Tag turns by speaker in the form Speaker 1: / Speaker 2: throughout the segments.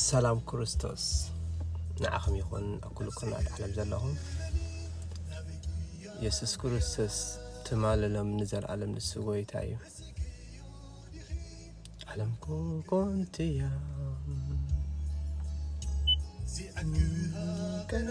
Speaker 1: ሰላም ክርስቶስ ንዓኹም ይኹን ኣብ ኩሉ ኩርናዓት ዓለም ዘለኹም የሱስ ክርስቶስ ትማልሎም ንዘለኣለም ንሱ ጎይታ እዩ ዓለም ኮንትያ ቀና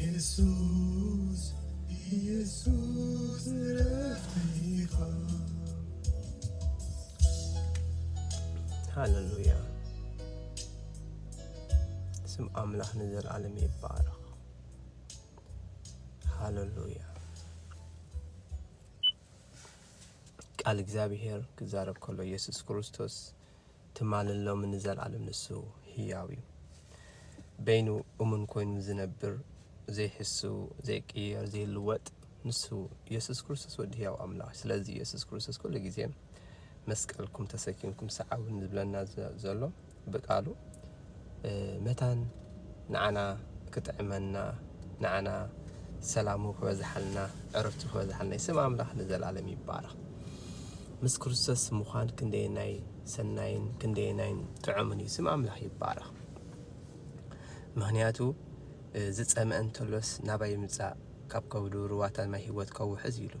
Speaker 2: ኢየሱስ ኢየሱስ እረፍተይ
Speaker 1: ኢኻ ሃለሉያ ስም ኣምላኽ ንዘለዓለም ይባረኽ። ሃለሉያ ቃል እግዚኣብሔር ክዛረብ ከሎ ኢየሱስ ክርስቶስ ትማልን ሎምን ንዘልኣለም ንሱ ህያው እዩ። በይኑ እሙን ኮይኑ ዝነብር፣ ዘይሕሱ፣ ዘይቅየር፣ ዘይልወጥ ንሱ የሱስ ክርስቶስ ወዲ ህያው ኣምላኽ እዩ። ስለዚ የሱስ ክርስቶስ ኩሉ ግዜ መስቀልኩም ተሰኪምኩም ሰዓቡኒ ዝብለና ዘሎ ብቃሉ መታን ንዓና ክጥዕመና ንዓና ሰላሙ ክበዝሓልና ዕረፍቱ ክበዝሓልና እዩ። ስም ኣምላኽ ንዘለኣለም ይባረኽ። ምስ ክርስቶስ ምዃን ክንደየናይ ሰናይን ክንደየናይን ጥዑምን እዩ። ስም ኣምላኽ ይባረኽ። ምክንያቱ ዝፀመ እንተሎስ ናባይ ምፃእ ካብ ከብዱ ሩዋታት ማይ ህይወት ከውሕዝ ኢሉ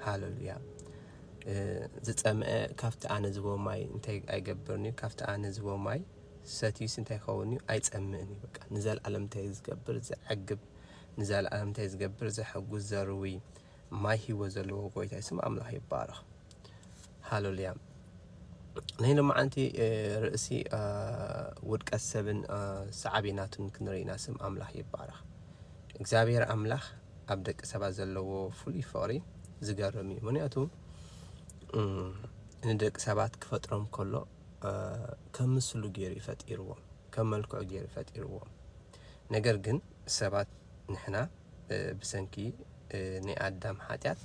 Speaker 1: ሃለሉያ ዝፀምአ ካብቲ ኣነ ዝቦ ማይ እንታይ ኣይገብርን እዩ ካብቲ ኣነ ዝቦ ማይ ሰትዩስ እንታይ ይኸውን እዩ ኣይጸምእን እዩ በቃ ንዘልኣለም እንታይ ዝገብር ዘዕግብ ንዘልኣለም እንታይ ዝገብር ዘሐጉስ ዘርዊ ማይ ህይወት ዘለዎ ጎይታ ስም ኣምላኽ ይባረኽ ሃሌሉያ ናይ ሎማዓንቲ ርእሲ ውድቀት ሰብን ሰዓቤናቱን ክንርኢ ኢና ስም ኣምላኽ ይባረኽ እግዚኣብሔር ኣምላኽ ኣብ ደቂ ሰባት ዘለዎ ፍሉይ ፍቕሪ ዝገርም እዩ ምክንያቱ ንደቂ ሰባት ክፈጥሮም ከሎ ከም ምስሉ ገይሩ እዩ ፈጢርዎም፣ ከም መልክዑ ገይሩ እዩ ፈጢርዎም። ነገር ግን ሰባት ንሕና ብሰንኪ ናይ ኣዳም ሓጢኣት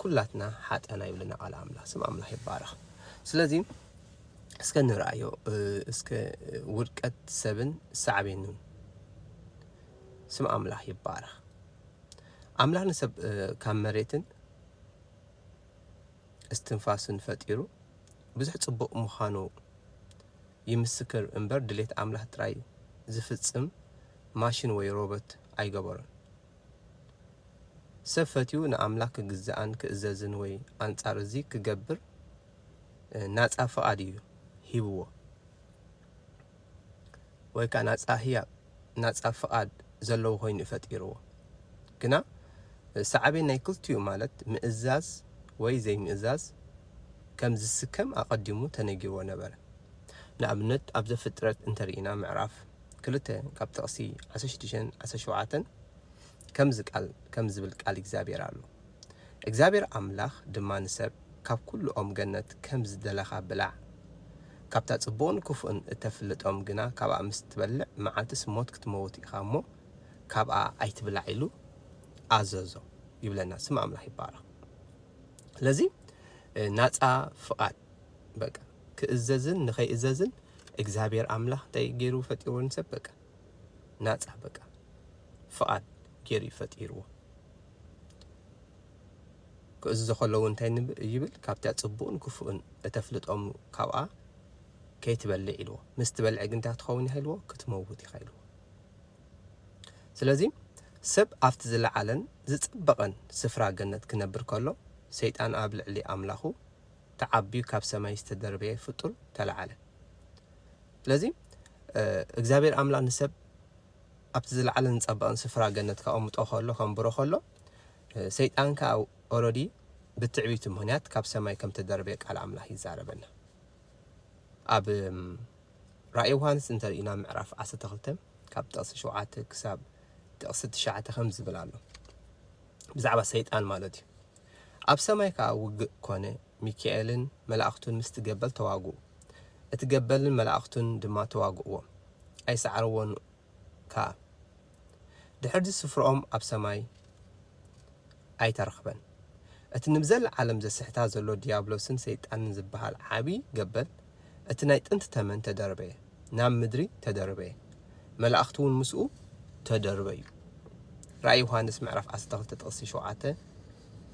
Speaker 1: ኩላትና ሓጠና ይብለና ቃል ኣምላኽ። ስም ኣምላኽ ይባረኽ። ስለዚ እስከ ንርኣዮ እስከ ውድቀት ሰብን ሳዕቤኑን ስም ኣምላኽ ይባረኽ። ኣምላኽ ንሰብ ካብ መሬትን እስትንፋስን ፈጢሩ ብዙሕ ጽቡቕ ምዃኑ ይምስክር እምበር ድሌት ኣምላኽ ጥራይ ዝፍጽም ማሽን ወይ ሮበት ኣይገበሮን። ሰብ ፈትዩ ንኣምላኽ ክግዛእን ክእዘዝን ወይ ኣንጻር እዚ ክገብር ናጻ ፍቓድ እዩ ሂብዎ። ወይ ከኣ ናጻ ህያብ፣ ናጻ ፍቓድ፣ ዘለዎ ኮይኑ እዩ ፈጢርዎ። ግና ሳዕቤን ናይ ክልቲኡ ማለት ምእዛዝ ወይ ዘይምእዛዝ ከም ዝስከም ኣቐዲሙ ተነጊርዎ ነበረ። ንኣብነት ኣብ ዘፍጥረት እንተ ርኢና ምዕራፍ ክልተ ካብ ጥቕሲ ዓሰርተ ሽዱሽተን ዓሰርተ ሸውዓተን ከምዚ ቃል ከምዚ ዝብል ቃል እግዚኣብሔር ኣሎ። እግዚኣብሔር ኣምላኽ ድማ ንሰብ ካብ ኵሉ ኦም ገነት ከም ዝደለኻ ብላዕ፣ ካብታ ጽቡቕን ክፉእን እተፍልጥ ኦም ግና ካብኣ ምስ እትበልዕ መዓልትስ ሞት ክትመውት ኢኻ እሞ፣ ካብኣ ኣይትብላዕ ኢሉ ኣዘዞ ይብለና። ስም ኣምላኽ ይባረኽ። ስለዚ ናጻ ፍቓድ በቃ ክእዘዝን ንኸይእዘዝን እግዚኣብሔር ኣምላኽ እንታይ ገይሩ ፈጢሩ ንሰብ በቃ ናጻ በቃ ፍቓድ ጌሩ እዩ ፈጢርዎ። ክእዝዞ ከሎ እውን እንታይ ይብል? ካብታ ጽቡቕን ክፉእን እተፍልጦም ካብኣ ከይትበልዕ ኢልዎ። ምስ ትበልዕ ግን እንታይ ክትኸውን ኢኻ ኢልዎ? ክትመውት ኢኻ ኢልዎ። ስለዚ ሰብ ኣብቲ ዝለዓለን ዝጸበቐን ስፍራ ገነት ክነብር ከሎ፣ ሰይጣን ኣብ ልዕሊ ኣምላኹ ተዓብዩ ካብ ሰማይ ዝተደርበየ ፍጡር ተላዓለ። ስለዚ እግዚኣብሔር ኣምላኽ ንሰብ ኣብቲ ዝለዓለን ዝጸበቐን ስፍራ ገነት ከቐምጦ ከሎ ከንብሮ ከሎ ሰይጣን ከኣ ኦረዲ ብትዕቢቱ ምክንያት ካብ ሰማይ ከም ተደርበየ ቃል ኣምላኽ ይዛረበና። ኣብ ራእይ ዮሃንስ እንተርኢና ምዕራፍ 12 ካብ ጥቕሲ 7 ክሳብ ጥቕሲ 9 ከም ዝብል ኣሎ ብዛዕባ ሰይጣን ማለት እዩ ኣብ ሰማይ ከኣ ውግእ ኰነ፣ ሚካኤልን መላእኽቱን ምስቲ ገበል ተዋግኡ፣ እቲ ገበልን መላእኽቱን ድማ ተዋግእዎም፣ ኣይሰዓርዎን ከኣ። ድሕርዚ ስፍርኦም ኣብ ሰማይ ኣይተረኽበን። እቲ ንብዘለዓለም ዘስሕታ ዘሎ ድያብሎስን ሰይጣንን ዝበሃል ዓብዪ ገበል እቲ ናይ ጥንቲ ተመን ተደርበየ፣ ናብ ምድሪ ተደርበየ፣ መላእኽቲውን ምስኡ ተደርበዩ። ራእይ ዮሃንስ ምዕራፍ ዓሰርተ ክልተ ጥቕሲ ሸውዓተ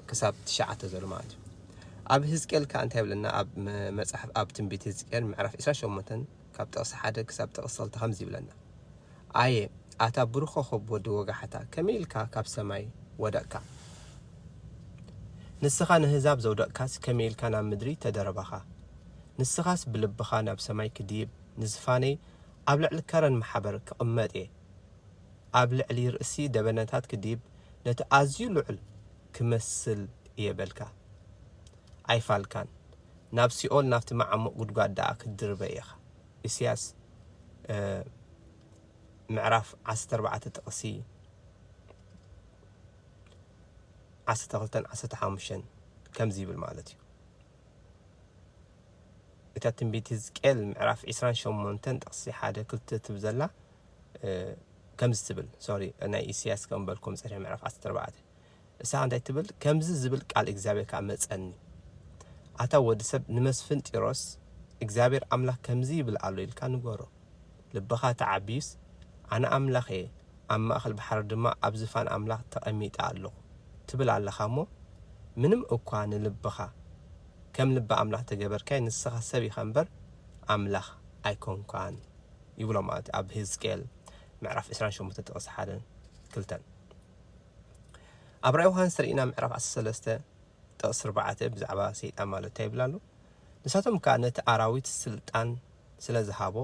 Speaker 1: ክሳብ ትሽዓተ ዘሎ ማለት እዩ። ኣብ ህዝቅኤል ከኣ እንታይ ይብለና? ኣብ መጽሓፍ ኣብ ትንቢት ህዝቅኤል ምዕራፍ ዕስራን ሸሞንተን ካብ ጥቕሲ ሓደ ክሳብ ጥቕሲ ክልተ ከምዚ ይብለና፣ ኣየ ኣታ ብሩኽ ኾኾብ ወዲ ወጋሕታ፣ ከመይ ኢልካ ካብ ሰማይ ወደቕካ? ንስኻ ነህዛብ ዘውደቕካስ ከመይ ኢልካ ናብ ምድሪ ተደረብኻ? ንስኻስ ብልብኻ ናብ ሰማይ ክድይብ ንዝፋነይ ኣብ ልዕሊ ከረን ማሕበር ክቕመጥ እየ ኣብ ልዕሊ ርእሲ ደበነታት ክድይብ ነቲ ኣዝዩ ልዑል ክመስል እየ በልካ ኣይፋልካን ናብ ሲኦል ናብቲ መዓሙቕ ጉድጓድ ደኣ ክትድርበ ኢኻ ኢሳያስ ምዕራፍ ዓሰርተ ኣርባዕተ ጥቕሲ ዓሰርተ ክልተን ዓሰርተ ሓሙሽተን ከምዚ ይብል ማለት እዩ እታ ትንቢት ህዝቅኤል ምዕራፍ ዕስራን ሸሞንተን ጥቕሲ ሓደ ክልተ ትብል ዘላ ከምዚ ትብል ሶሪ ናይ ኢሳያስ ከም በልኩም ጸሪሕ ምዕራፍ ዓሰርተ ኣርባዕተ እሳ እንታይ ትብል ከምዚ ዝብል ቃል እግዚኣብሔር ከዓ መጸኒ ኣታ ወዲ ሰብ ንመስፍን ጢሮስ እግዚኣብሔር ኣምላክ ከምዚ ይብል ኣሎ ኢልካ ንገሮ ልብኻ ተዓብዩስ፣ ኣነ ኣምላኽ እየ፣ ኣብ ማእከል ባሕሪ ድማ ኣብ ዝፋን ኣምላኽ ተቐሚጠ ኣሎኹ፣ ትብል ኣለኻ እሞ፣ ምንም እኳ ንልብኻ ከም ልቢ ኣምላኽ እንተገበርካዮ፣ ንስኻ ሰብ ኢኻ እምበር፣ ኣምላኽ ኣይኮንካን። ይብሎ ማለት እዩ፣ ኣብ ህዝቅኤል ምዕራፍ ዕስራን ሸሞንተን ጥቕሲ ሓደን ክልተን። ኣብ ራእይ ዮሃንስ ርኢና ምዕራፍ ዓሰርተ ሰለስተ ጥቕሲ ኣርባዕተ ብዛዕባ ሰይጣን ማለት እንታይ ይብል ኣሎ? ንሳቶም ከኣ ነቲ ኣራዊት ስልጣን ስለ ዝሃቦ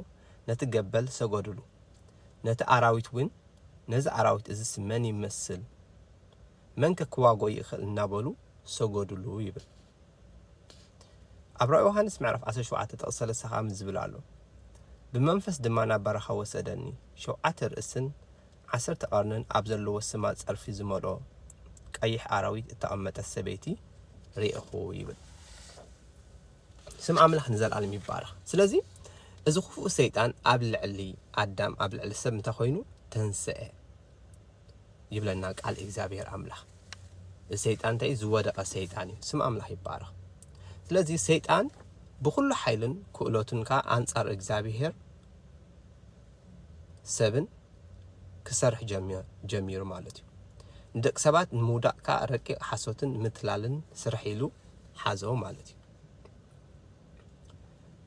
Speaker 1: ነቲ ገበል ሰገዱሉ። ነቲ ኣራዊት እውን ነዚ ኣራዊት እዝስ መን ይመስል? መንከ ክዋግኦ ይእኽእል እናበሉ ሰገዱሉ ይብል። ኣብ ራእይ ዮሃንስ ምዕራፍ ዓሰርተ ሸውዓተ ጥቕሲ ሰለስተ ከኣ ዝብል ኣሎ። ብመንፈስ ድማ ናብ በረኻ ወሰደኒ፣ ሸውዓተ ርእስን ዓሰርተ ቀርንን ኣብ ዘለዎ ስማ ጸርፊ ዝመልኦ ቀይሕ ኣራዊት እተቐመጠት ሰበይቲ ርኤኹ ይብል። ስም ኣምላኽ ንዘለኣለም ይባረኽ። ስለዚ እዚ ክፉእ ሰይጣን ኣብ ልዕሊ ኣዳም ኣብ ልዕሊ ሰብ እንታይ ኮይኑ ተንስአ ይብለና ቃል እግዚኣብሔር ኣምላኽ። እዚ ሰይጣን እንታይ እዩ? ዝወደቐ ሰይጣን እዩ። ስም ኣምላኽ ይባረኽ። ስለዚ ሰይጣን ብኩሉ ሓይልን ክእለቱን ከዓ ኣንጻር እግዚኣብሔር ሰብን ክሰርሕ ጀሚሩ ማለት እዩ። ንደቂ ሰባት ንምውዳቕ ከኣ ረቂቕ ሓሶትን ምትላልን ስርሒ ኢሉ ሓዞ ማለት እዩ።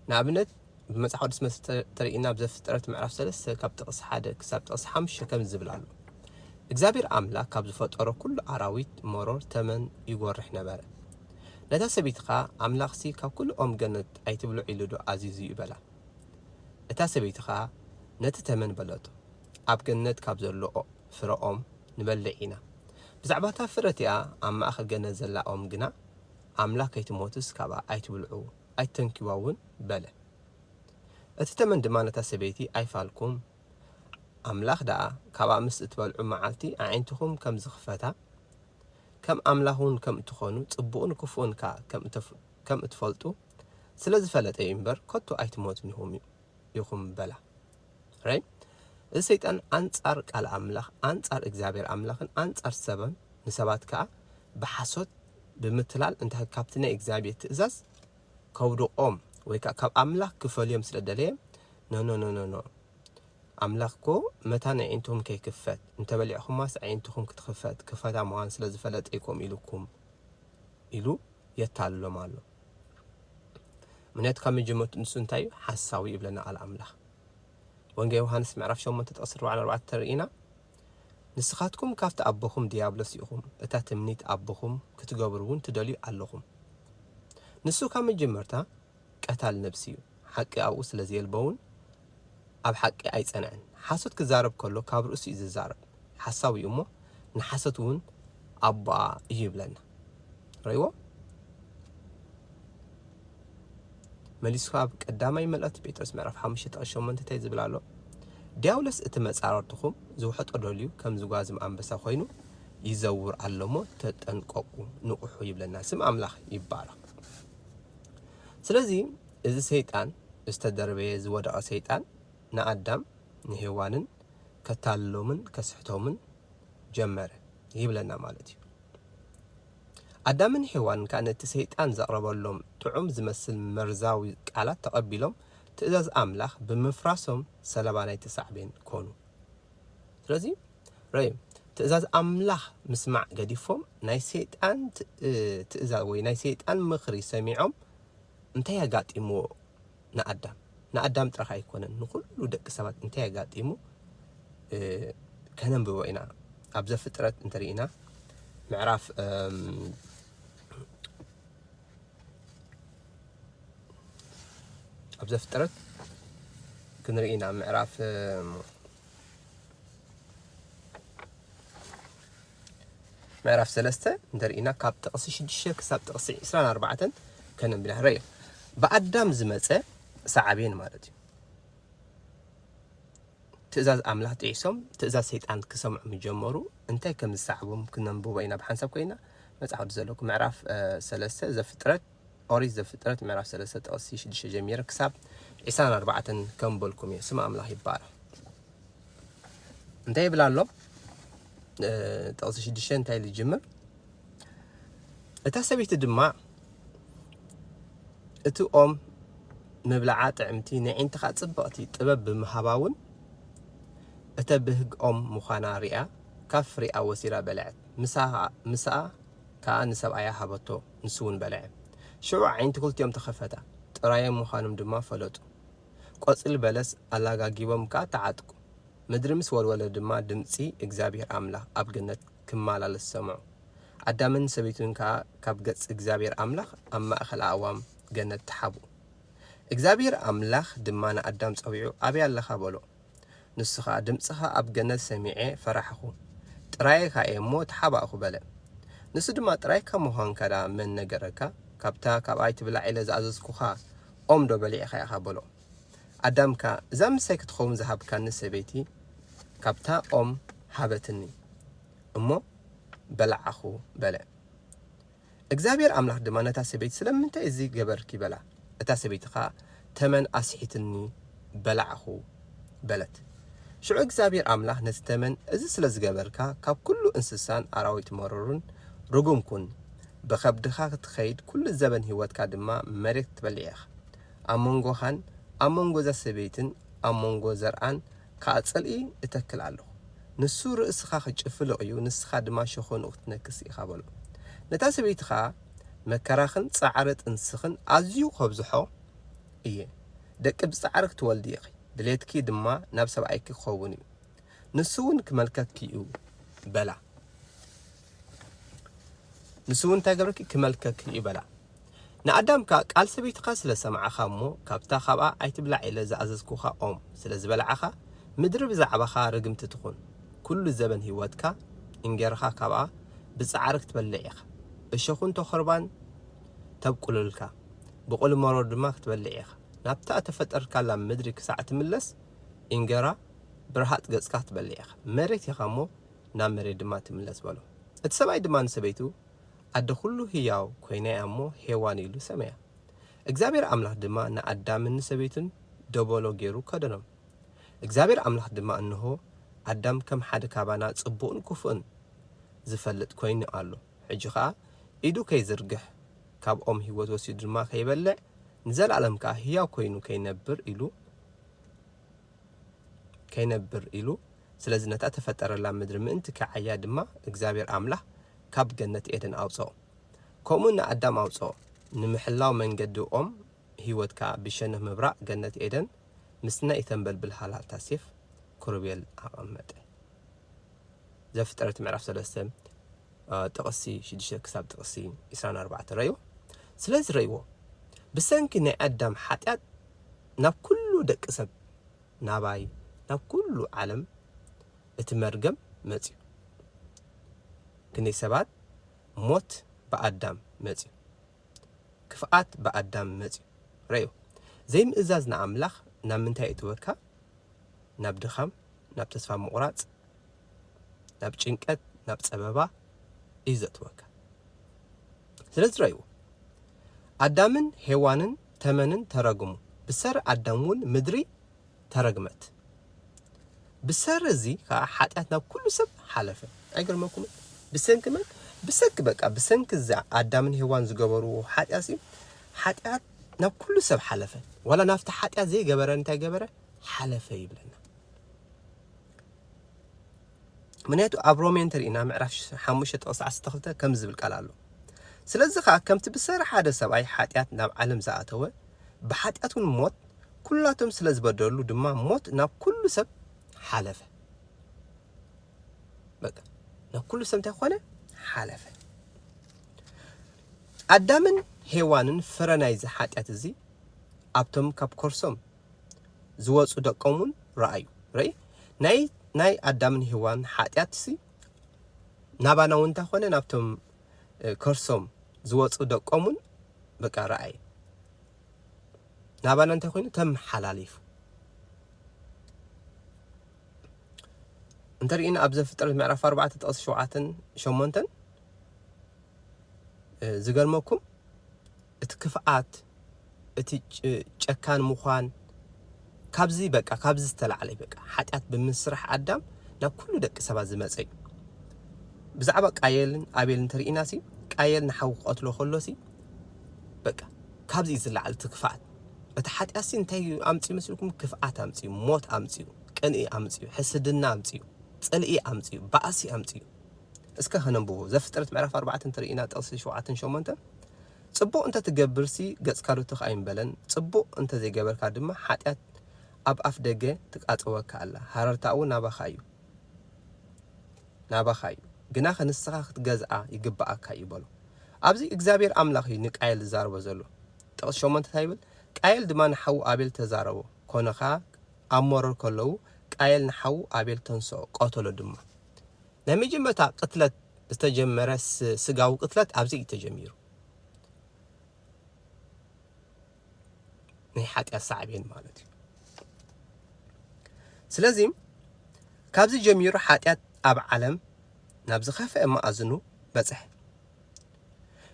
Speaker 1: ንኣብነት ብመጽሓፍ ቅዱስ መስ ተርእና ኣብ ዘፍጥረት ምዕራፍ ሰለስተ ካብ ጥቕስ ሓደ ክሳብ ጥቕስ ሓሙሽተ ከም ዝብል ኣሎ እግዚኣብሔር ኣምላክ ካብ ዝፈጠሮ ኩሉ ኣራዊት መሮር ተመን ይጎርሕ ነበረ ነታ ሰበይቲ ከዓ ኣምላኽሲ ካብ ኩሉ ኦም ገነት ኣይትብልዑ ኢሉ ዶ ኣዚዙ ይበላ እታ ሰበይቲ ኸኣ ነቲ ተመን በለቶ፣ ኣብ ገነት ካብ ዘሎ ፍረ ኦም ንበልዕ ኢና። ብዛዕባ እታ ፍረ እቲኣ ኣብ ማእከል ገነት ዘላ ኦም ግና፣ ኣምላኽ ከይትሞትስ ካብኣ ኣይትብልዑ፣ ኣይትተንክዩዋ እውን በለ። እቲ ተመን ድማ ነታ ሰበይቲ፣ ኣይፋልኩም፣ ኣምላኽ ደኣ ካብኣ ምስ እትበልዑ መዓልቲ ኣዒንትኹም ከም ዝኽፈታ፣ ከም ኣምላኽ እውን ከም እትዀኑ፣ ጽቡቕን ክፉእን ከኣ ከም እትፈልጡ፣ ስለ ዝፈለጠ እዩ እምበር ከቶ ኣይትሞቱን ኢኹም ኢኹም በላ ራይ እዚ ሰይጣን ኣንጻር ቃል ኣምላኽ ኣንጻር እግዚኣብሔር ኣምላኽን ኣንጻር ሰብን ንሰባት ከኣ ብሓሶት ብምትላል እንታይ ካብቲ ናይ እግዚኣብሔር ትእዛዝ ከውድቆም ወይ ከዓ ካብ ኣምላኽ ክፈልዮም ስለ ደለየ ኖኖኖኖኖ ኣምላኽ እኮ መታን ኣዒንትኹም ከይክፈት እንተበሊዕኹማስ ኣዒንትኹም ክትኽፈት ክፈታ ምዃን ስለ ዝፈለጠ ይኮም ኢሉኩም ኢሉ የታልሎም ኣሎ ምክንያቱ ካብ መጀመርቱ ንሱ እንታይ እዩ ሓሳዊ እዩ ይብለና ቃል ኣምላኽ ወንጌ ዮሃንስ ምዕራፍ 8 ጥቕሲ 44 ተርእና ንስኻትኩም ካብቲ ኣቦኹም ድያብሎስ ኢኹም እታ ትምኒት ኣቦኹም ክትገብሩ እውን ትደልዩ ኣለኹም ንሱ ካብ መጀመርታ ቀታል ነብሲ ዩ ሓቂ ኣብኡ ስለ ዘየልቦውን ኣብ ሓቂ ኣይጸንዐን ሓሶት ክዛረብ ከሎ ካብ ርእሱ ዩ ዝዛረብ ሓሳዊ ዩ እሞ ንሓሶት ውን ኣቦኣ እዩ ይብለና ረእይዎ መሊሱ ኣብ ቀዳማይ መልእኽቲ ጴጥሮስ ምዕራፍ ሓሙሽተ ጥቕስ ሸሞንተ እንታይ ዝብል ኣሎ ድያብሎስ እቲ መጻረርትኹም ዝውሕጦ ደልዩ ከም ዝጓዝም ኣንበሳ ኮይኑ ይዘውር ኣሎ እሞ ተጠንቀቁ ንቑሑ ይብለና ስም ኣምላኽ ይባረኽ ስለዚ እዚ ሰይጣን ዝተደርበየ ዝወደቐ ሰይጣን ንኣዳም ንሄዋንን ከታልሎምን ከስሕቶምን ጀመረ ይብለና ማለት እዩ። ኣዳምን ሄዋንን ከኣ ነቲ ሰይጣን ዘቕረበሎም ጥዑም ዝመስል መርዛዊ ቃላት ተቐቢሎም ትእዛዝ ኣምላኽ ብምፍራሶም ሰለባ ናይቲ ሳዕቤን ኮኑ። ስለዚ ረይ ትእዛዝ ኣምላኽ ምስማዕ ገዲፎም ናይ ሰይጣን ትእዛዝ ወይ ናይ ሰይጣን ምኽሪ ሰሚዖም እንታይ ኣጋጢምዎ ንኣዳም ንኣዳም ጥራሕ ኣይኮነን ንኩሉ ደቂ ሰባት እንታይ ኣጋጢሙ ከነንብቦ ኢና ኣብ ዘፍጥረት እንተርኢና ምዕራፍ ኣብ ዘፍጥረት ክንርኢ ኢና ምዕራፍ ምዕራፍ ሰለስተ እንተርኢና ካብ ጥቕሲ ሽዱሽተ ክሳብ ጥቕሲ ዕስራን ኣርባዕተን ከነንብና ረዮ ብኣዳም ዝመፀ ሰዓቤን ማለት እዩ ትእዛዝ ኣምላኽ ጥሒሶም ትእዛዝ ሰይጣን ክሰምዑ ምስ ጀመሩ እንታይ ከም ዝሰዓቦም ክነንብቦ ኢና ብሓንሳብ ኮይና መጽሓፍ ቅዱስ ዘለኩም ምዕራፍ እ፣ ሰለስተ ዘፍጥረት ኦሪት ዘፍጥረት ምዕራፍ ሰለስተ ጥቕሲ ሽዱሽተ ጀሚረ ክሳብ ዒስራን ኣርባዕተን ከንበልኩም እየ ስም ኣምላኽ ይባረኽ እንታይ ይብል ኣሎ እ፣ ጥቕሲ ሽዱሽተ እንታይ ኢሉ ይጅምር እታ ሰበይቲ ድማ እቲ ኦም ምብላዓ ጥዕምቲ ንዒንትኻ ጽብቕቲ ጥበብ ብምሃባ እውን እተብህግ ኦም ምዃና ርእያ ካብ ፍሬኣ ወሲዳ በልዐት፣ ምሳኣ ከኣ ንሰብኣያ ሃበቶ፣ ንሱ እውን በልዐ። ሽዑ ኣዒንቲ ክልቲኦም ተኸፈታ፣ ጥራዮም ምዃኖም ድማ ፈለጡ። ቈጽሊ በለስ ኣላጋጊቦም ከኣ ተዓጥቁ፣ ምድሪ ምስ ወልወለ ድማ ድምጺ እግዚኣብሄር ኣምላኽ ኣብ ገነት ክማላለስ ሰምዑ። ኣዳምን ሰበይቱን ከኣ ካብ ገጽ እግዚኣብሔር ኣምላኽ ኣብ ማእከል ኣእዋም ገነት ተሓብኡ። እግዚኣብሔር ኣምላኽ ድማ ንኣዳም ጸዊዑ ኣበይ ኣለኻ በሎ። ንሱ ኸኣ ድምጽኻ ኣብ ገነት ሰሚዔ ፈራሕኹ፣ ጥራየካ እየ እሞ ተሓባእኩ በለ። ንሱ ድማ ጥራይካ ምዃንካ ደኣ መን ነገረካ? ካብታ ካብ ኣይትብላዕ ኢለ ዝኣዘዝኩኻ ኦምዶ በሊዕኻ ኢኻ በሎ። ኣዳምካ እዛ ምሳይ ክትኸውን ዝሃብካኒ ሰበይቲ ካብታ ኦም ሃበትኒ እሞ በላዓኹ በለ። እግዚኣብሄር ኣምላኽ ድማ ነታ ሰበይቲ ስለምንታይ እዚ ገበርኪ በላ። እታ ሰበይቲ ኸኣ ተመን ኣስሒትኒ በላዕኹ በለት። ሽዑ እግዚኣብሄር ኣምላኽ ነቲ ተመን እዚ ስለ ዝገበርካ ካብ ኩሉ እንስሳን ኣራዊት መሮርን ርጉም ኩን፣ ብኸብድኻ ክትኸይድ ኩሉ ዘበን ህይወትካ ድማ መሬት ክትበልዕ ኢኻ። ኣብ መንጎኻን ኣብ መንጎ እዛ ሰበይትን ኣብ መንጎ ዘርኣን ከኣ ጽልኢ እተክል ኣለኹ። ንሱ ርእስኻ ኺጭፍልቕ እዩ፣ ንስኻ ድማ ሸኾንኡ ኽትነክስ ኢኻ በሎ። ነታ ሰበይቲ ኸኣ፣ መከራኽን ጻዕሪ ጥንስኽን ኣዝዩ ኸብዝሖ እየ። ደቂ ብጻዕሪ ክትወልዲ ኢኺ፣ ድሌትኪ ድማ ናብ ሰብኣይኪ ኪኸውን እዩ፣ ንሱውን ኪመልከኪ እዩ በላ። ንሱ እውን እንታይ ገብረኪ ክመልከኪ እዩ በላ። ንኣዳም ከኣ ቃል ሰበይትኻ ስለ ሰማዕኻ እሞ ካብታ ካብኣ ኣይትብላዕ ኢለ ዝኣዘዝኩኻ ኦም ስለ ዝበላዕኻ ምድሪ ብዛዕባኻ ርግምቲ ትኹን፣ ኩሉ ዘበን ህይወትካ እንጌራኻ ካብኣ ብጻዕሪ ክትበልዕ ኢኻ፣ እሾኹን ተኾርባን ተብቍሉልካ፣ ብቍሊ መሮር ድማ ክትበልዕ ኢኻ፣ ናብታ እተፈጠርካላ ምድሪ ክሳዕ እትምለስ እንጌራ ብርሃጽ ገጽካ ክትበልዕ ኢኻ፣ መሬት ኢኻ እሞ፣ ናብ መሬት ድማ ትምለስ በሎ። እቲ ሰብኣይ ድማ ንሰበይቱ፣ ኣደ ዅሉ ህያው ኰይና እያ እሞ፣ ሄዋን ኢሉ ሰመያ። እግዚኣብሄር ኣምላኽ ድማ ንኣዳምን ንሰበይቱን ደበሎ ገይሩ ከደኖም። እግዚኣብሄር ኣምላኽ ድማ፣ እንሆ፣ ኣዳም ከም ሓደ ካባና ጽቡቕን ክፉእን ዚፈልጥ ኰይኑ ኣሎ። ሕጂ ኸኣ፣ ኢዱ ኸይዝርግሕ፣ ካብ ኦም ህይወት ወሲዱ ድማ ኸይበልዕ፣ ንዘለኣለም ከኣ ህያው ኰይኑ ኸይነብር ኢሉ፣ ከይነብር ኢሉ ስለዚ ነታ ተፈጠረላ ምድሪ ምእንቲ ኪዓያ ድማ እግዚኣብሔር ኣምላኽ ካብ ገነት ኤደን ኣውጸኦ። ከምኡ ንኣዳም ኣውጸኦ፣ ንምሕላው መንገዲ ኦም ህይወት ከኣ ብሸነኽ ምብራቕ ገነት ኤደን ምስቲ ናይ እተንበልብል ሃልሃልታ ሴፍ ክሩቤል ኣቐመጠ። ዘፍጥረት ምዕራፍ ሰለስተ ጥቕሲ ሽዱሽተ ክሳብ ጥቕሲ ዕስራን ኣርባዕተን ረእዮ። ስለዚ ረእዎ፣ ብሰንኪ ናይ ኣዳም ሓጢኣት ናብ ኩሉ ደቂ ሰብ፣ ናባይ፣ ናብ ኩሉ ዓለም እቲ መርገም መጺኡ። ክንደይ ሰባት ሞት ብኣዳም መጺኡ። ክፍኣት ብኣዳም መጺኡ። ረእዮ፣ ዘይምእዛዝ ንኣምላኽ ናብ ምንታይ የእትወካ? ናብ ድኻም፣ ናብ ተስፋ ምቑራጽ፣ ናብ ጭንቀት ናብ ጸበባ እዩ ዘእትወካ ስለዚ ረእይዎ ኣዳምን ሄዋንን ተመንን ተረግሙ ብሰሪ ኣዳም እውን ምድሪ ተረግመት ብሰሪ እዚ ከዓ ሓጢኣት ናብ ኩሉ ሰብ ሓለፈ ኣይገርመኩምን ብሰንኪ መን ብሰንኪ በቃ ብሰንኪ እዚ ኣዳምን ሄዋን ዝገበርዎ ሓጢኣት እዩ ሓጢኣት ናብ ኩሉ ሰብ ሓለፈ ዋላ ናብቲ ሓጢኣት ዘይገበረ እንታይ ገበረ ሓለፈ ይብለና ምክንያቱ ኣብ ሮሜ እንተሪእና ምዕራፍ ሓሙሽተ ጥቕሲ ዓሰርተ ክልተ ከምዚ ዝብል ቃል ኣሎ ስለዚ ከዓ ከምቲ ብሰሪ ሓደ ሰብኣይ ሓጢኣት ናብ ዓለም ዝኣተወ ብሓጢኣት እውን ሞት ኩላቶም ስለ ዝበደሉ ድማ ሞት ናብ ኩሉ ሰብ ሓለፈ በቃ ናብ ኩሉ ሰብ እንታይ ኮነ ሓለፈ ኣዳምን ሄዋንን ፍረ ናይዚ ሓጢኣት እዚ ኣብቶም ካብ ኮርሶም ዝወጹ ደቆም ውን ረኣዩ ረኢ ናይ ናይ ኣዳምን ሄዋን ሓጥያትሲ ናባና ውን እንታ ኮነ ናብቶም ከርሶም ዝወጹ ደቆም ውን በቃ ረኣየ ናባና እንታይ ኮይኑ ተመሓላሊፉ እንተሪኢና ኣብ ዘፍጥረት ምዕራፍ 4 ጥቕሲ 7 8 ዝገርመኩም እቲ ክፍኣት እቲ ጨካን ምዃን ካብዚ በቃ ካብዚ ዝተላዕለ እዩ በቃ ሓጢኣት ብምስራሕ ኣዳም ናብ ኩሉ ደቂ ሰባት ዝመጸ እዩ ብዛዕባ ቃየልን ኣቤልን እንተሪኢና ሲ ቃየል ንሓው ክቐትሎ ከሎ ሲ በቃ ካብዚ እዩ ዝለዓል እቲ ክፍኣት እቲ ሓጢኣት ሲ እንታይ እዩ ኣምጺኡ መስልኩም ክፍኣት ኣምጺኡ ሞት ኣምጺኡ ቅንኢ ኣምጺኡ ሕስድና ኣምጺኡ ጽልኢ ኣምጺኡ ባእሲ ኣምጺኡ እስከ ከነንብቦ ዘፍጥረት ምዕራፍ ኣርባዕተ እንተርኢና ጥቕሲ ሸውዓተን ሸሞንተን ጽቡቕ እንተ ትገብርሲ ገጽካ ዶ ትኽ ኣይምበለን ጽቡቕ እንተ ዘይገበርካ ድማ ሓጢኣት ኣብ ኣፍ ደገ ትቃጸወካ ኣላ ሃረርታኣ እውን ናባኻ እዩ ናባኻ እዩ ግናኸ ንስኻ ክትገዝኣ ይግብኣካ እዩ በሎ ኣብዚ እግዚኣብሔር ኣምላኽ እዩ ንቃየል ዝዛረቦ ዘሎ ጥቕሲ ሸሞንተ እንታይ ይብል ቃየል ድማ ንሓዉ ኣቤል ተዛረቦ ኮነ ኸኣ ኣብ መሮር ከለዉ ቃየል ንሓዉ ኣቤል ተንስኦ ቀተሎ ድማ ናይ መጀመርታ ቅትለት ዝተጀመረ ስጋዊ ቅትለት ኣብዚ እዩ ተጀሚሩ። ናይ ሓጢኣት ሳዕቤን ማለት እዩ። ስለዚ ካብዚ ጀሚሩ ሓጢኣት ኣብ ዓለም ናብ ዝኸፍአ መኣዝኑ በጽሐ።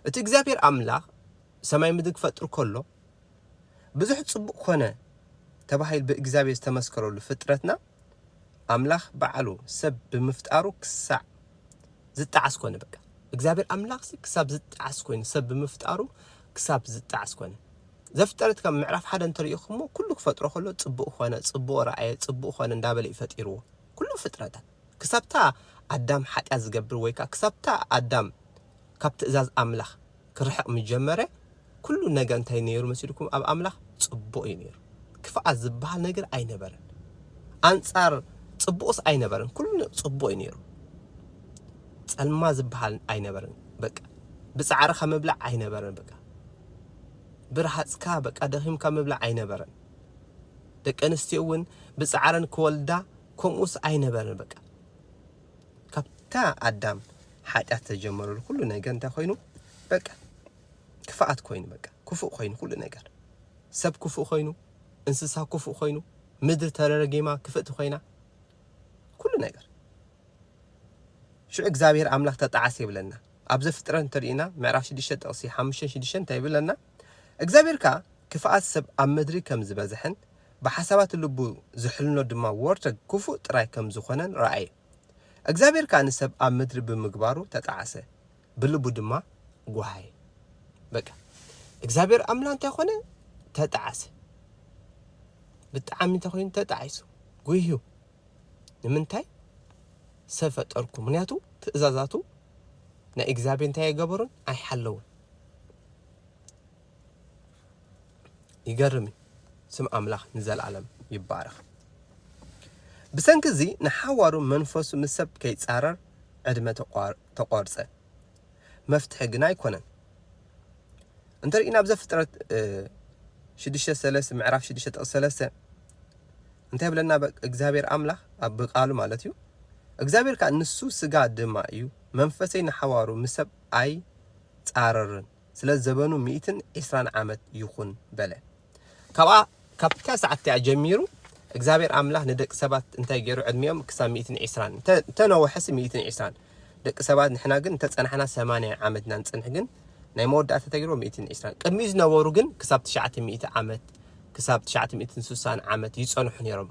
Speaker 1: እቲ እግዚኣብሔር ኣምላኽ ሰማይ ምድሪ ክፈጥር ከሎ ብዙሕ ጽቡቕ ኮነ ተባሂሉ ብእግዚኣብሔር ዝተመስከረሉ ፍጥረትና ኣምላኽ ባዓሉ ሰብ ብምፍጣሩ ክሳዕ ዝጣዓስ ኮነ በቃ እግዚኣብሔር ኣምላኽሲ ክሳብ ዝጣዓስ ኮይኑ ሰብ ብምፍጣሩ ክሳብ ዝጣዓስ ኮነ ዘፍጠረት ካብ ምዕራፍ ሓደ እንተሪኢኹሞ ኩሉ ክፈጥሮ ከሎ ጽቡቅ ኮነ ጽቡቅ ረኣየ ጽቡቅ ኮነ እንዳበለ እዩ ፈጢርዎ ኩሉ ፍጥረታት ክሳብታ ኣዳም ሓጢኣት ዝገብር ወይ ከዓ ክሳብታ ኣዳም ካብ ትእዛዝ ኣምላኽ ክርሕቕ ምስ ጀመረ ኩሉ ነገር እንታይ ነይሩ መሲልኩም ኣብ ኣምላኽ ጽቡቕ እዩ ነይሩ ክፍኣት ዝብሃል ነገር ኣይነበረን ኣንጻር ጽቡቕስ ኣይነበረን ኩሉ ጽቡቕ እዩ ነይሩ ጸልማ ዝብሃል ኣይነበረን በቃ ብጻዕርኻ ምብላዕ ኣይነበረን በቃ ብርሃጽካ በቃ ደኺምካ ምብላዕ ኣይነበረን ደቂ ኣንስትዮ እውን ብጻዕረን ክወልዳ ከምኡስ ኣይነበረን በቃ ካብታ ኣዳም ሓጢኣት ተጀመረሉ ኩሉ ነገር እንታይ ኮይኑ በቃ ክፍኣት ኮይኑ በቃ ክፉእ ኮይኑ ኩሉ ነገር ሰብ ክፉእ ኮይኑ እንስሳ ክፉእ ኮይኑ ምድሪ ተረረጊማ ክፍእቲ ኮይና ኩሉ ነገር ሽዑ እግዚኣብሔር ኣምላኽ ተጣዓሰ ይብለና ኣብ ዘፍጥረት እንተሪእና ምዕራፍ 6 ጥቕሲ 5 6 እንታይ ይብለና እግዚኣብሔር ከዓ ክፍኣት ሰብ ኣብ ምድሪ ከም ዝበዝሐን ብሓሳባት ልቡ ዚሕልኖ ድማ ወርተግ ክፉእ ጥራይ ከም ዝዀነን ረኣየ። እግዚኣብሄር ከኣ ንሰብ ኣብ ምድሪ ብምግባሩ ተጣዕሰ፣ ብልቡ ድማ ጐሃየ። በቃ እግዚኣብሄር ኣምላ እንታይ ዀነ? ተጣዕሰ። ብጣዕሚ እንታይ ኰይኑ? ተጣዒሱ፣ ጒህዩ። ንምንታይ? ሰብ ፈጠርኩ። ምክንያቱ ትእዛዛቱ ናይ እግዚኣብሄር እንታይ ኣይገበሩን? ኣይሓለዉን። ይገርም እዩ። ስም ኣምላኽ ንዘለኣለም ይባረኽ። ብሰንኪ እዚ ንሓዋሩ መንፈሱ ምስ ሰብ ከይጻረር ዕድመ ተቋርጸ። መፍትሒ ግን ኣይኮነን። እንተሪእና ኣብ ዘፍጥረት ሽዱሽተ ሰለስተ ምዕራፍ ሽዱሽተ ጥቕስ ሰለስተ እንታይ ይብለና እግዚኣብሔር ኣምላኽ ኣብ ቃሉ ማለት እዩ እግዚኣብሔር ከዓ ንሱ ስጋ ድማ እዩ መንፈሰይ ንሓዋሩ ምስ ሰብ ኣይጻረርን ስለ ዘበኑ ሚእትን ዒስራን ዓመት ይኹን በለ። ካብኣ ካብታ ሰዓት እቲኣ ጀሚሩ እግዚኣብሔር ኣምላኽ ንደቂ ሰባት እንታይ ገይሩ ዕድሚኦም ክሳብ ሚእትን ዒስራን እንተ- እንተነወሐሲ ሚእትን ዒስራን ደቂ ሰባት ንሕና ግን እንተጸናሕና ሰማንያ ዓመት ኢና ንጽንሕ ግን ናይ መወዳእታ ተገይርዎ ሚእትን ዒስራን ቅድሚኡ ዝነበሩ ግን ክሳብ ትሽዓተ ሚእቲ ዓመት ክሳብ ትሽዓተ ሚእትን ስሳን ዓመት ይጸንሑ ነይሮም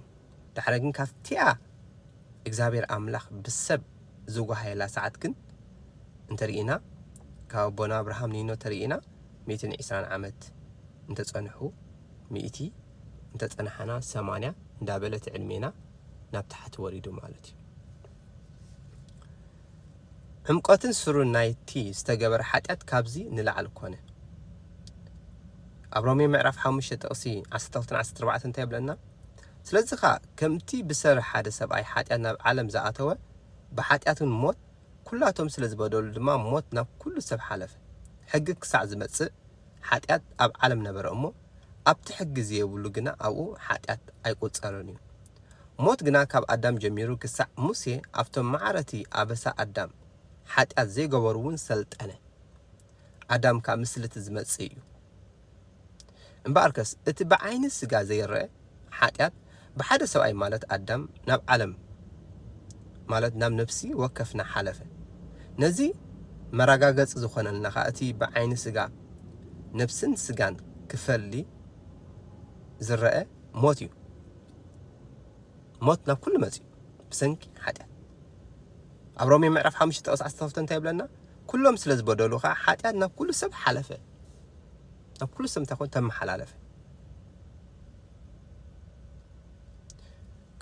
Speaker 1: ዳሕራይ ግን ካብቲኣ እግዚኣብሔር ኣምላኽ ብሰብ ዝጓሃየላ ሰዓት ግን እንተርኢና ካብ ኣቦና ኣብርሃም ኒኖ ተርኢና ሚእትን ዒስራን ዓመት እንተጸንሑ ሚእቲ እንተጸናሓና ሰማንያ እንዳበለ እቲ ዕድሜና ናብ ታሕቲ ወሪዱ ማለት እዩ። ዕምቆትን ስሩን ናይቲ ዝተገበረ ሓጢኣት ካብዚ ንላዕሊ ኮነ። ኣብ ሮሜ ምዕራፍ ሓሙሽተ ጥቕሲ ዓሰርተ ክልተን ዓሰርተ ኣርባዕተን እንታይ ይብለና? ስለዚ ኸኣ ከምቲ ብሰሪ ሓደ ሰብኣይ ሓጢኣት ናብ ዓለም ዝኣተወ፣ ብሓጢኣትውን ሞት፣ ኵላቶም ስለ ዝበደሉ ድማ ሞት ናብ ኵሉ ሰብ ሓለፈ። ሕጊ ክሳዕ ዝመጽእ ሓጢኣት ኣብ ዓለም ነበረ እሞ፣ ኣብቲ ሕጊ ዘየብሉ ግና ኣብኡ ሓጢኣት ኣይቍጸርን እዩ። ሞት ግና ካብ ኣዳም ጀሚሩ ክሳዕ ሙሴ ኣብቶም ማዕረ'ቲ ኣበሳ ኣዳም፣ ሓጢኣት ዘይገበሩ'ውን ሰልጠነ። ኣዳም ከኣ ምስሊ'ቲ ዝመጽእ እዩ። እምበኣርከስ እቲ ብዓይኒ ስጋ ዘይረኣ ሓጢኣት ብሓደ ሰብኣይ ማለት ኣዳም ናብ ዓለም ማለት ናብ ነፍሲ ወከፍና ሓለፈ። ነዚ መራጋገጺ ዝኾነልና ከኣ እቲ ብዓይኒ ስጋ ነፍስን ስጋን ክፈሊ ዝረኣ ሞት እዩ። ሞት ናብ ኩሉ መጺኡ ብሰንኪ ሓጢኣት። ኣብ ሮሜ ምዕራፍ ሓሙሽተ ጥቕስ ዓሰርተ ክልተ እንታይ ይብለና? ኩሎም ስለ ዝበደሉ ኸኣ ሓጢኣት ናብ ኩሉ ሰብ ሓለፈ። ናብ ኩሉ ሰብ እንታይ ኮነ? ተመሓላለፈ።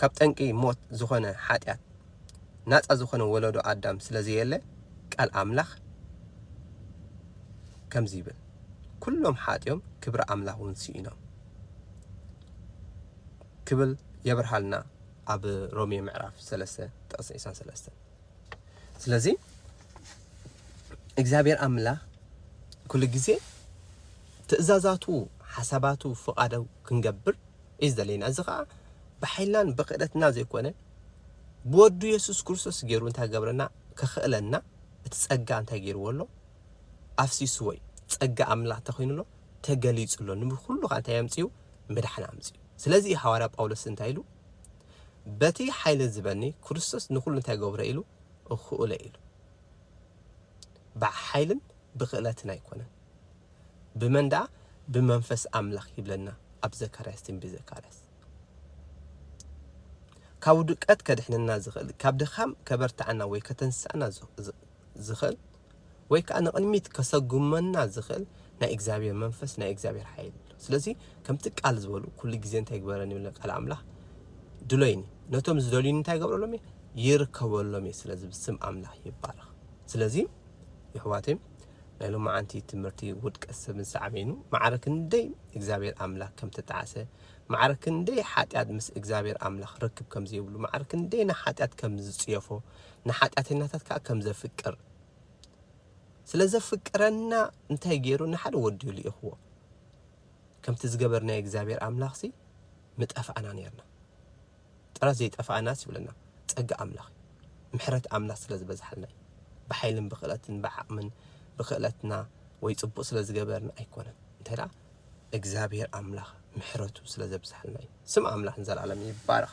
Speaker 1: ካብ ጠንቂ ሞት ዝኾነ ሓጢኣት ናጻ ዝኾነ ወለዶ ኣዳም ስለ ዘየለ ቃል ኣምላኽ ከምዚ ይብል ኩሎም ሓጢኦም ክብሪ ኣምላኽ እውን ስኢኖም ክብል የብርሃልና ኣብ ሮሜ ምዕራፍ ሰለስተ ጥቕሲ ዒስራን ሰለስተን ስለዚ እግዚኣብሔር ኣምላኽ ኩሉ ግዜ ትእዛዛቱ ሓሳባቱ ፍቓዱ ክንገብር እዩ ዝደለየና እዚ ከዓ ብሓይልናን ብክእለትና ዘይኮነ ብወዱ የሱስ ክርስቶስ ገይሩ እንታይ ገብረና ከኽእለና እቲ ጸጋ እንታይ ገይርዎ ኣሎ ኣፍሲስዎ እዩ ጸጋ ኣምላኽ ተኮይኑ ኣሎ ተገሊጹ ኣሎ ንብኩሉ ከዓ እንታይ ኣምፅኡ ምድሓን ኣምፅኡ ስለዚ ሃዋርያ ጳውሎስ እንታይ ኢሉ በቲ ሓይሊ ዝበኒ ክርስቶስ ንኹሉ እንታይ ገብሮ ኢሉ እኹእለ ኢሉ ብሓይልን ብክእለትን ኣይኮነን ብመን ደኣ ብመንፈስ ኣምላኽ ይብለና ኣብ ዘካርያስ ትንቢት ዘካርያስ ካብ ውድቀት ከድሕነና ዝኽእል ካብ ድኻም ከበርትዓና ወይ ከተንስኣና ዝኽእል ወይ ከኣ ንቕድሚት ከሰጉመና ዝኽእል ናይ እግዚኣብሄር መንፈስ ናይ እግዚኣብሄር ሓይሊ ኣሎ። ስለዚ ከምቲ ቃል ዝበሉ ኩሉ ግዜ እንታይ ይግበረኒ ይብለኒ ቃል ኣምላኽ ድሎይኒ ነቶም ዝደልዩኒ እንታይ ይገብረሎም እየ ይርከበሎም እየ። ስለዚ ብስም ኣምላኽ ይባረኽ። ስለዚ ይሕዋተይ ናይ ሎማዓንቲ ትምህርቲ ውድቀት ሰብን ሳዕቤኑ ማዕረ ክንደይ እግዚኣብሄር ኣምላኽ ከም ተጣዕሰ ማዕረ ክንደይ ሓጢኣት ምስ እግዚኣብሄር ኣምላኽ ርክብ ከም ዘይብሉ ማዕረ ክንደይ ንሓጢኣት ከም ዝጽየፎ ንሓጢኣተኛታት ከኣ ከም ዘፍቅር ስለ ዘፍቅረና እንታይ ገይሩ ንሓደ ወዱ ልኢኽዎ ከምቲ ዝገበርናዮ እግዚኣብሔር ኣምላኽሲ ምጠፋእና ነርና ጥራይ ዘይጠፋእናስ ይብለና ጸጋ ኣምላኽ ምሕረት ኣምላኽ ስለ ዝበዝሓልና እዩ ብሓይልን ብክእለትን ብዓቕምን ብክእለትና ወይ ጽቡቕ ስለ ዝገበርና ኣይኮነን እንታይ ደኣ እግዚኣብሔር ኣምላኽ ምሕረቱ ስለ ዘብዝሓልና እዩ ስም ኣምላኽ ንዘለኣለም ይባረኽ